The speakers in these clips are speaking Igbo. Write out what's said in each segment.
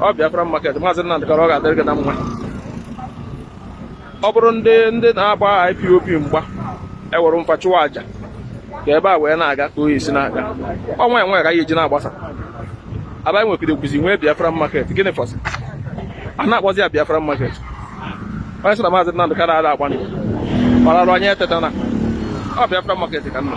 ọ Biafra market maazị Nnamdị Kanu ọ ga-adịrị gị na mma ọ bụrụ ndị ndị na-agba IPOB mgba ewere mfa chụwa aja ka ebe a wee na-aga ka oyi si na-aga ọnwa enwe ka ya eji na-agbasa aba anyị nwekwara ekwuzi nwee Biafra market gịnị fọzi a na-akpọzi ya Biafra market onye sị na maazị Nnamdị Kanu ada agba mbọ ararụ anyị eteta na ọ Biafra market ka m nọ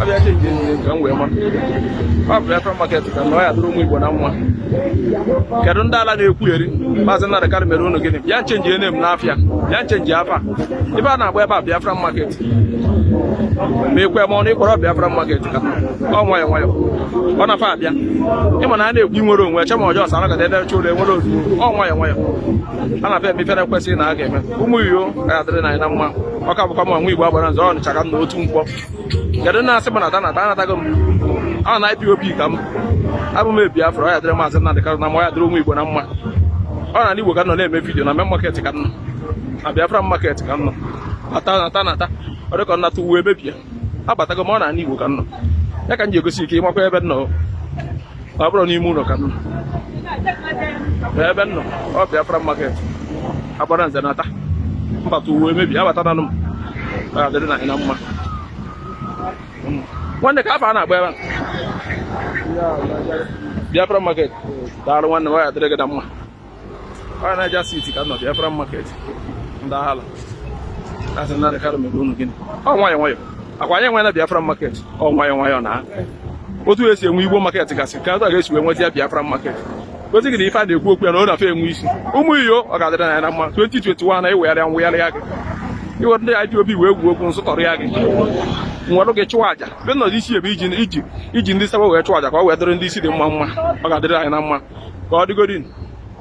abịa cheki enyi ka m wee ma ọ bụ Biafra market ka m nọ ọ ya-adịrị ụmụ Igbo na mma kedu ndị ala na-ekwugheri maazị Nnamdi Kanu mere unu gịnị bịa chenjie name n'afịa bịa chenjie afa ebe a na-agba ebe a Biafra market ma ekwe ma ọnụ ịkpọrọ Biafra market ka ọ nwayọ nwayọ ọ na fa abịa ịma na a na-ekwu inwere onwe eche ma ọjọọ sara gada ebe chụrụ enwere ozugbo ọ nwayọ nwayọ a na-afa eme ife e kwesịrị na a ga-eme ụmụ Igbo ga-adịrị na anyị na mma ọ ka bụkwa m nwa Igbo agbara nze Ọnịcha ka m nọ Otu Nkwọ kedu na asị gbanata nata anatago m ọ na IPOB ka m abụ m Biafra ọ ya-adịrị maazị Nnamdị Kanu na mma ya dịrị ụmụ Igbo na mma ọ na Igbo ka m nọ na-eme vidiyo na main market ka m nọ na Biafra market ka m nọ nata nata nata ọ dịka m nata ụwa emebie abatago m ọ na Igbo ka m nọ ya ka m ji egosi ike ịmakwa ebe m nọ ọ bụrọ n'ime ụlọ ka m nọ ebe m nọ ọ Biafra market agbara nze nata m bata ụwa emebie abatana m ọ ya-adịrị anyị na mma nwanne kee afa a na-agba ebe Biafra market daalụ nwanne m ọ ya adịrị gị na mma Ọnịcha siti ka m nọ Biafra market ndị aghala asị Nnamdị Kanu mere unu gịnị ọ nwayọ nwayọ ọ kwa anyị enwena biafra market ọ nwayọ nwayọ na otu esi enwe igbo market gasị ka a ga-esi wee nweta ya biafra market gosi gị na ife a na-ekwu okwu ya na ọ na-afe enwe isi ụmụ Igbo ọ ga-adịrị na ya na mma 2021 na iwegharịa mwegharị ya gị iwere ndị IPOB wee gwuo okwu nsụtọrọ ya gị nwere gị chụọ aja be nọdụ isi ebe iji iji iji ndị saba wee chụọ aja ka ọ wee dịrị ndị isi dị mma mma ọ ga-adịrị anyị na mma ka ọ dịgodin